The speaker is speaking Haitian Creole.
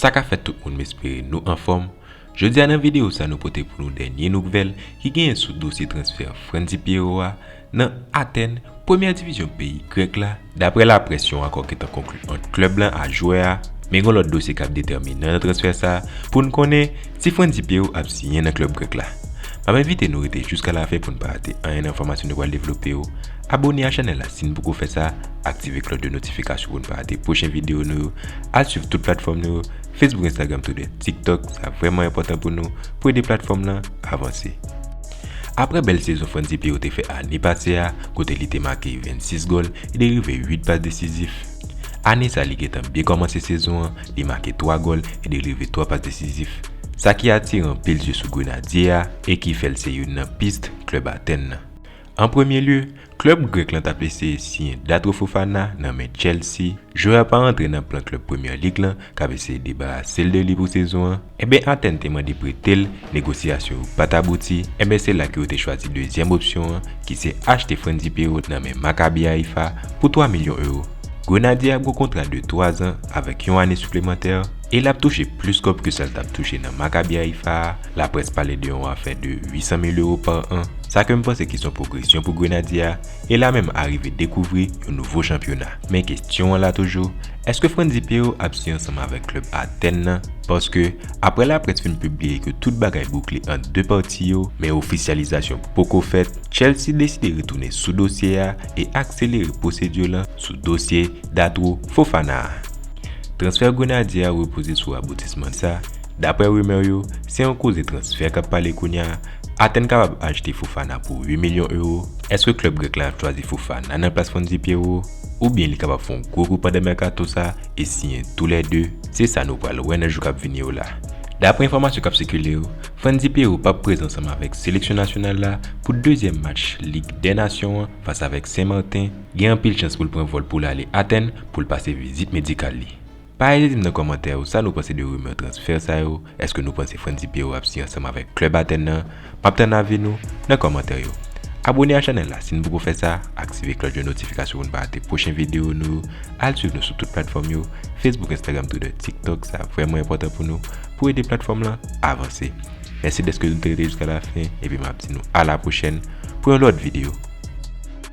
Sa ka fèt tout moun m espere nou anfòm, jodi a nan videyo sa nou pote pou nou dènye noukvèl ki genyen sou dosye transfè Frantzy Pierrot a, Nan Atèn, premyè divizyon peyi grèk la, daprè laprès yon akò gentan konklu ant klèb lan ak jwè a, men gen lòt dosye kap detèminan nan transfè sa poun konnen si Frantzy Pierrot ap siyen nan klèb grèk la. Map envite nou rete jouska lafen poun pa rate anyen nan enfòmasyon nou pral devlope yo, abone a chanèl la sin poko fè sa, aktive klòch de notifikasyon poun pa rate pwochen video nou yo, al swiv tout platfòm nou yo, Facebook Instagram Twitter TikTok sa vrèman enpòtan pou nou pou ede platfòm lan avanse. Aprè bèl sezon Frantzy Pierrot te fè ane pase a kote li te make 26 gòl e derive 8 pas desizif, ane sa li gentan byen kòmanse sezon an, li make 3 gòl e derive 3 pas desizif, sa ki atire anpil zye sou Grenadye a e ki fè l se youn nan pist klèb Atèn nan. An premye lye, Klub Grek lan tap eseye siyen Datro Fofana nan men Chelsea, jwè a pa rantre nan plan klub Premier League lan kap eseye debarase l de li pou sezon an, enben Athènes te mande prete l, negosyasyon yo pat abouti, enben se la ke yo te chwazi dezyèm opsyon an ki se achte Frendzy Perraud nan men Maccabi Haifa pou 3 milyon euro. Grenadye a gwo kontra de 3 zan avèk yon ane siplemantè. E lap touche plis kòb ke sal tap touche nan Maccabi Haïfa a, laprès pale de yon afè de 800 mil euro par an, sa ke m panse ki son pwogresyon pou Grenadye a, e la menm arive dekouvri yon nouvo chanpyona. Men kestyon an la toujou, èske Frantzy Péau ap siy ansanm avèk klèb Athènes nan? Paske, aprè laprès fin pibliye ke tout bagay boukle ant 2 pati yo, men ofisyalizasyon poko fèt, Chelsea deside retounen sou dosye a e akselere pwosedi lan sou dosye Datro Fofana a. Transfè Grenadye a repoze sou raboutisman sa, daprè rimè yo, se yon koze transfè k ap pale kounya, Athènes kapab achte Fofana pou 8 milyon ewo, èske klèb grèk la ap chwazi Fofana nan plas Frenzy Pierrot, oubyen li kapab fè yon gwo kou pandan mèkato sa e siyen tou lè 2, se sa nou pral wè nan jou k ap vini yo la. Daprè enfòmasyon k ap sikile yo, Frenzy Pierrot p ap prezan ansanm avèk seleksyon nasyonal la pou dezyèm match Lig dè Nasyon an fas avèk Sen Marten, Gen anpil chans pou l pran vòl pou l ale Atèn pou l pase vizit medikal li. Pa ezite di m nan kòmantè yo sa nou panse de rimè transfè sa yo, èske nou panse Frantzy Pierrot ap siyen ansanm avèk klèb Atèn nan? M ap tann avi nou nan kòmantè yo. Abone a chanèl la si n poko fè sa, aktive klòch de notifikasyon pou n pa rate pwochen videyo nou yo, al swiv nou sou tout platfòm yo, Facebook, Instagram, Twitter, TikTok, sa vrèman enpòtan pou nou, pou ede platfòm lan avanse. Mèsi dèske nou te rete jiska lafen epi m ap di nou a la pwochèn pou yon lòt videyo.